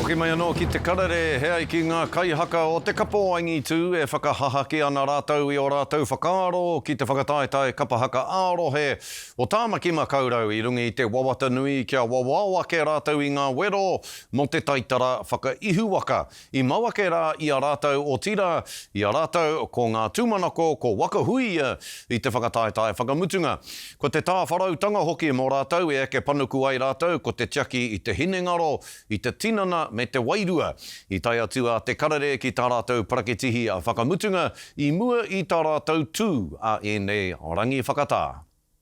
Hoki mai anō ki te karere, he ai ki ngā kaihaka o te kapa o angitū e whakahahaki ana rātou i ō rātou whakaaro ki te whakataetae kapa haka ā-rohe o Tāmaki Makaurau i runga i te wawata nui kia wawao ake rātou i ngā wero mō te taitara whakaihuwaka. I mau ake rā i a rātou, otirā, i a rātou, ko ngā tūmanako, ko Waka Huia i te whakataetae whakamutunga. Ko te tāwharautanga hoki mō rātou e eke panuku ai rātou ko te tiaki i te hinengaro, i te tinana me te wairua. I tae atu a Te Karere ki tā rātou parakitihi whakamutunga i mua i tā rātou tū a ēnei rangi whakatā.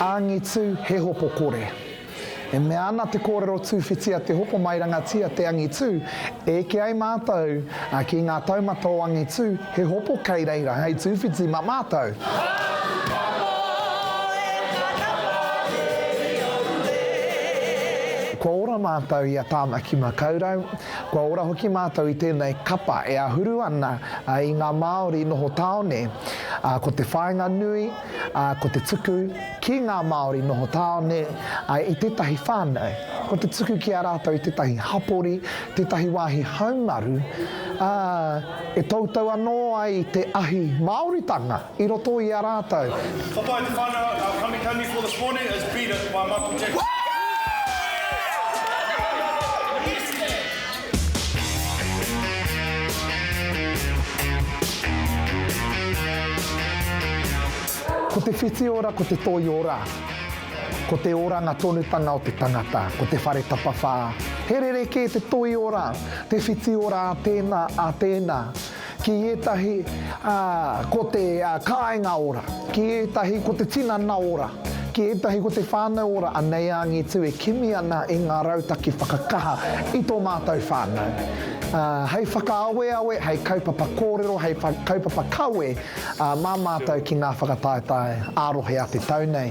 Angitu he hopo kore. E mea ana te kōrero Tūwhitia te hopo mairangatia te angitu, eke ai mātou ki ngā taumata o angitu he hopo kei reira hei tūwhiti mā mātou. Kua ora mātou i a Tāmaki Makaurau, kua ora hoki mātou i tēnei kapa e ahuru ana i ngā Māori noho tāone, ko te whāinga nui, ā, ko te tuku ki ngā Māori noho tāone i tētahi whānau, ko te tuku ki a rātou i tētahi hapori, tētahi wāhi haumaru, ā, e toutou anō ai te ahi Māoritanga i roto i a rātou. Hopa i te whānau a Ngā Kamikami for this morning is Beat It by Michael Jackson. Ko te whiti ora ko te toi ora Ko te oranga tonutanga o te tangata Ko te whare tapawhā He rerekē te toi ora Te whiti ora a tēnā, a tēnā ki ētahi ko te kāinga ora, ki ētahi ko te tinana ora, ki ētahi ko te whānau ora, anei a Angitu e kimi ana i ngā rautaki whakakaha i tō mātou whānau. Hei whakaaweawe, hei kaupapa kōrero, hei kaupapa kawe mā mātou ki ngā whakataetae ā-rohe a te tau nei.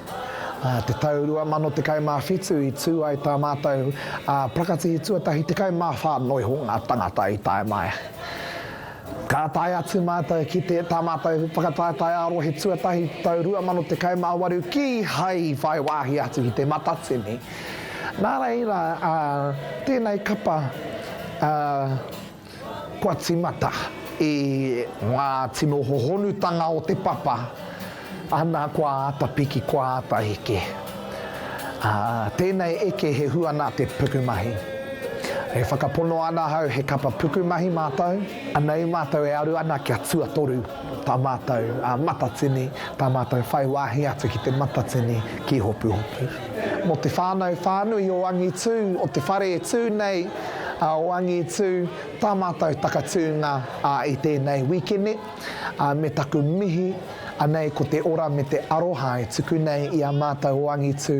Ā te tau 2017 i tū ai tā mātou parakatihi tuatahi 14 noiho ngā tāngata i tae mai. Ka tae atu mātou ki te tā mātou whakataetae ā-rohe tuatahi tau 2018 ki hai whai wāhi atu ki Te Matatini. Nā reira, tēnei kapa, Kua tīmata i ngā tino hohonutanga o te papa, ana kua āta piki, kua āta eke. Ā, tēnei eke he hua nā te pukumahi. E whakapono ana ahau he kapa pukumahi mātou, anei mātou e aru ana kia tuatoru. tā mātou Matatini, tā mātou whai wāhi atu ki te Matatini ki Hopuhopu. Mō te whānau whānui o Angitū, o te whare e tū nei o Angitū, tā mātou takatūnga i tēnei wikene, me taku mihi, anei ko te ora me te aroha e tuku nei i a mātou o Angitū